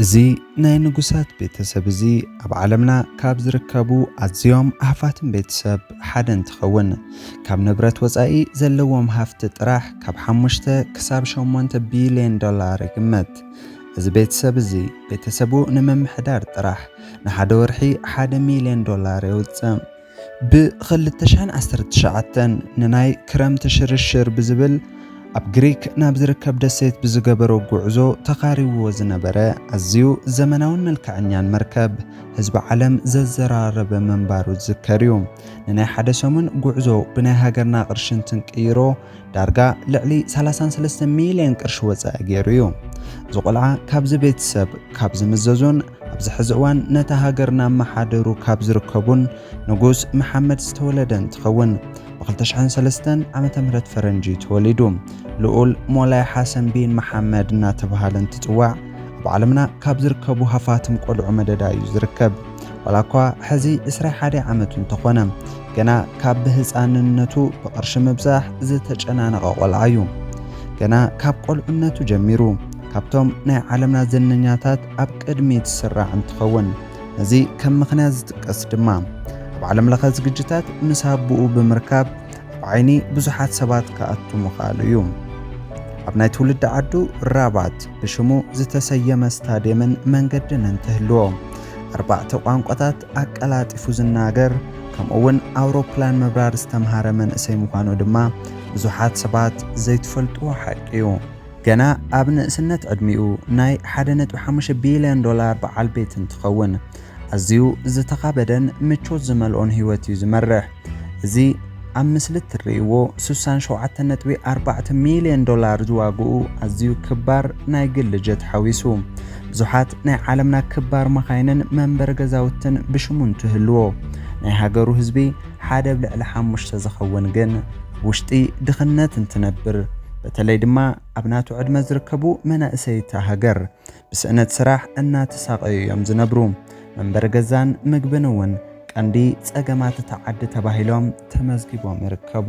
እዚ ናይ ንጉሳት ቤተሰብ እዚ ኣብ ዓለምና ካብ ዝርከቡ ኣዝዮም ሃፋትም ቤተሰብ ሓደ እንትኸውን ካብ ንብረት ወፃኢ ዘለዎም ሃፍቲ ጥራሕ ካብ ሓሙሽተ ክሳብ ሸሞንተ ቢሊዮን ዶላር ይግመት። እዚ ቤተሰብ እዚ ቤተሰቡ ንምምሕዳር ጥራሕ ንሓደ ወርሒ ሓደ ሚሊዮን ዶላር የውፅእ። ብ ክልተ ሽሕን ዓሰርተ ትሽዓተን ንናይ ክረምቲ ሽርሽር ብዝብል ኣብ ግሪክ ናብ ዝርከብ ደሴት ብዝገበሮ ጉዕዞ ተኻሪብዎ ዝነበረ ኣዝዩ ዘመናውን መልክዐኛን መርከብ ህዝቢ ዓለም ዘዘራረበ ምንባሩ ዝዝከር እዩ። ንናይ ሓደ ሰሙን ጉዕዞ ብናይ ሃገርና ቅርሺ እንትንቅይሮ ዳርጋ ልዕሊ ሰላሳን ሰለስተ ሚልዮን ቅርሺ ወጻኢ ገይሩ እዩ። እዚ ቆልዓ ካብዚ ቤተሰብ ካብ ዝምዘዙን ኣብዚ ሕዚ እዋን ነታ ሃገር እናመሓደሩ ካብ ዝርከቡን ንጉስ መሓመድ ዝተወለደ እንትኸውን ብክልተ ሽሕን ሰለስተን ዓመተ ምህረት ፈረንጂ እዩ ተወሊዱ። ልኡል ሞላይ ሓሰን ቢን መሓመድ እናተብሃለ እንትፅዋዕ ኣብ ዓለምና ካብ ዝርከቡ ሃፋትም ቆልዑ መደዳ እዩ ዝርከብ። ዋላ እኳ ሕዚ ዕስራ ሓደይ ዓመቱ እንተኾነ ገና ካብ ብህፃንነቱ ብቕርሺ ምብዛሕ ዝተጨናነቐ ቆልዓ እዩ። ገና ካብ ቆልዕነቱ ጀሚሩ ካብቶም ናይ ዓለምና ዝነኛታት ኣብ ቅድሚ ትስራዕ እንትኸውን ነዚ ከም ምኽንያት ዝጥቀስ ድማ ኣብ ዓለም ለኸ ዝግጅታት ምስ ኣቦኡ ብምርካብ ኣብ ዓይኒ ብዙሓት ሰባት ክኣቱ ምኽኣሉ እዩ። ኣብ ናይ ትውልዲ ዓዱ ራባት ብሽሙ ዝተሰየመ ስታድየምን መንገድን እንትህልዎ ኣርባዕተ ቋንቋታት ኣቀላጢፉ ዝናገር ከምኡ'ውን ኣውሮፕላን ምብራር ዝተምሃረ መንእሰይ ምዃኑ ድማ ብዙሓት ሰባት ዘይትፈልጥዎ ሓቂ'ዩ። ገና ኣብ ንእስነት ዕድሚኡ ናይ ሓደ ነጥቢ ሓሙሽተ ቢልዮን ዶላር በዓል ቤት እንትኸውን፣ ኣዝዩ ዝተኻበደን ምቾት ዝመልኦን ህይወት'ዩ ዝመርሕ። እዚ ኣብ ምስሊ እትርእይዎ ስሳን ሸውዓተን ነጥቢ ኣርባዕተ ሚልዮን ዶላር ዝዋግኡ ኣዝዩ ክባር ናይ ግሊ ጀት ሓዊሱ ብዙሓት ናይ ዓለምና ክባር መኻይንን መንበሪ ገዛውትን ብሽሙ እንትህልዎ ናይ ሃገሩ ህዝቢ ሓደ ብ ልዕሊ ሓሙሽተ ዝኸውን ግን ኣብ ውሽጢ ድኽነት እንትነብር በተለይ ድማ ኣብ ናቱ ዕድመ ዝርከቡ መናእሰይታ ሃገር ብስእነት ስራሕ እናተሳቐዩ እዮም ዝነብሩ። መንበሪ ገዛን ምግብን እውን ቀንዲ ፀገማት እታ ዓዲ ተባሂሎም ተመዝጊቦም ይርከቡ።